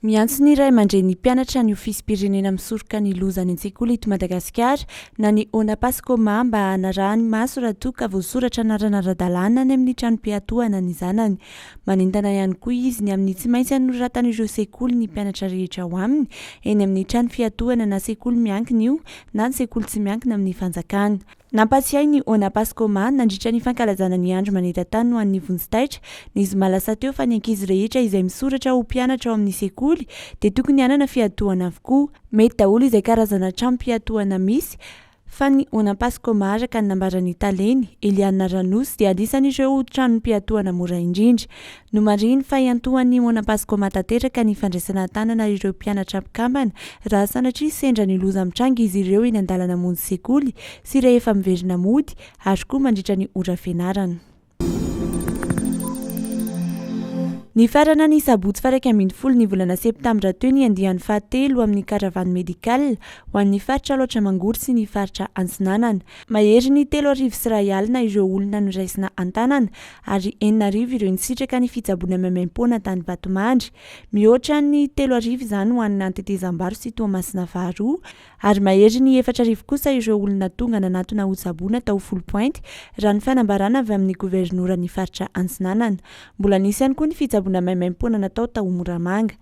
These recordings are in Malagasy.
Miantso ny ray aman-dreny ny mpianatra ny ofisim-pirenena misoroka ny loza any an-tsekoly eto Madagasikara na ny ONAPASCOMA mba hanarahany maso raha toa ka voasoratra anarana ara-dalàna any amin'ny tranom-piatohana ny zanany. Manentana ihany koa izy ny amin'ny tsy maintsy hanoratan'ireo sekoly ny mpianatra rehetra ao aminy eny amin'ny trano fiatohana na sekoly miankina io na ny sekoly tsy miankina amin'ny fanjakana. Nampatsiahy ny Ona Paskoma, nandritra ny fankalazana ny Andro maneran-tany ho an'ny Vonjy Taitra, ny zoma lasa teo fa ny ankizy rehetra izay misoratra ho mpianatra ao amin'ny sekoly dia tokony hanana fiatohana avokoa. Mety daholo izay karazana tranom-piatohana misy fa ny Ona Paskoma araka ny nambaran'ny Taleny, Eliana Ranosy, dia anisan'ireo tranom-piatohana mora indrindra. Nomarihiny fa hiantohan'ny Mona Pascoma tanteraka ny fandraisana an-tanana ireo mpianatra mpikambana raha sanatria sendra ny loza mitranga izy ireo eny an-dalana monjy sekoly sy rehefa miverina mody ary koa mandritra ny ora fianarana. Nifarana ny sabotsy faha iraika ambin'ny folo ny volana septambra teo ny andiany faha telo amin'ny Caravane Médicale ho an'ny faritra Alaotra Mangoro sy ny faritra Antsinanana. Maherin'ny telo arivo sy iray alina ireo olona noraisina an-tanana ary enina arivo ireo nisitraka ny fitsaboana maimaim-poana tany Vatomandry. Mihoatra ny telo arivo izany ho an'ny Antetezambaro sy Toamasina faharoa, ary mahery ny efatra arivo kosa ireo olona tonga nanatona hotsaboina tao Foulpointe, raha ny fanambarana avy amin'ny governoran'ny faritra Antsinanana. Mbola nisy ihany koa ny fitsaboana maimaim-poana natao tao Moramanga.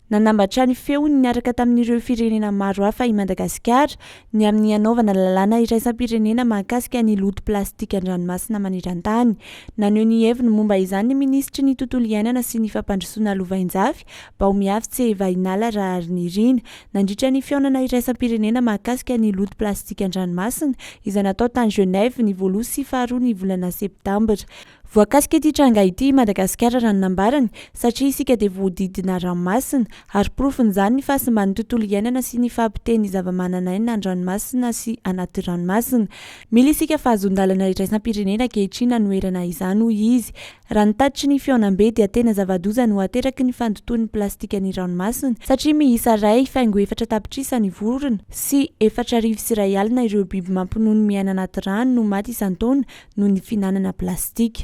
Nanambatra ny feony niaraka tamin'ireo firenena maro hafa i Madagasikara ny amin'ny hanaovana lalàna iraisam-pirenena mahakasika ny loto plastika an-dranomasina maneran-tany. Naneho ny heviny momba izany ny minisitry ny Tontolo iainana sy ny fampandrosoana lovainjafy, Baomiavotse Vahinala Raharinirina, nandritra ny fihaonana iraisam-pirenena mahakasika ny loto plastika an-dranomasina izay natao tany Genève ny voaloha sy faharoa ny volana septambra. Voakasika ity tranga ity i Madagasikara raha ny nambarany satria isika dia voahodidina ranomasina ary porofon'izany ny fahasimban'ny tontolo iainana sy ny fahapotehin'ny zavamananaina an-dranomasina sy anaty ranomasina. Mila isika fahazoan-dalana iraisam-pirenena ankehitriny hanoherana izany hoy izy. Raha ny tatitry ny fihaonambe dia tena zava-doza no ateraky ny fandotoan'ny plastika ny ranomasina satria miisa iray faingo efatra tapitrisa ny vorona sy efatra arivo sy iray alina ireo biby mampinono miaina anaty rano no maty isan-taona noho ny fihinanana plastika.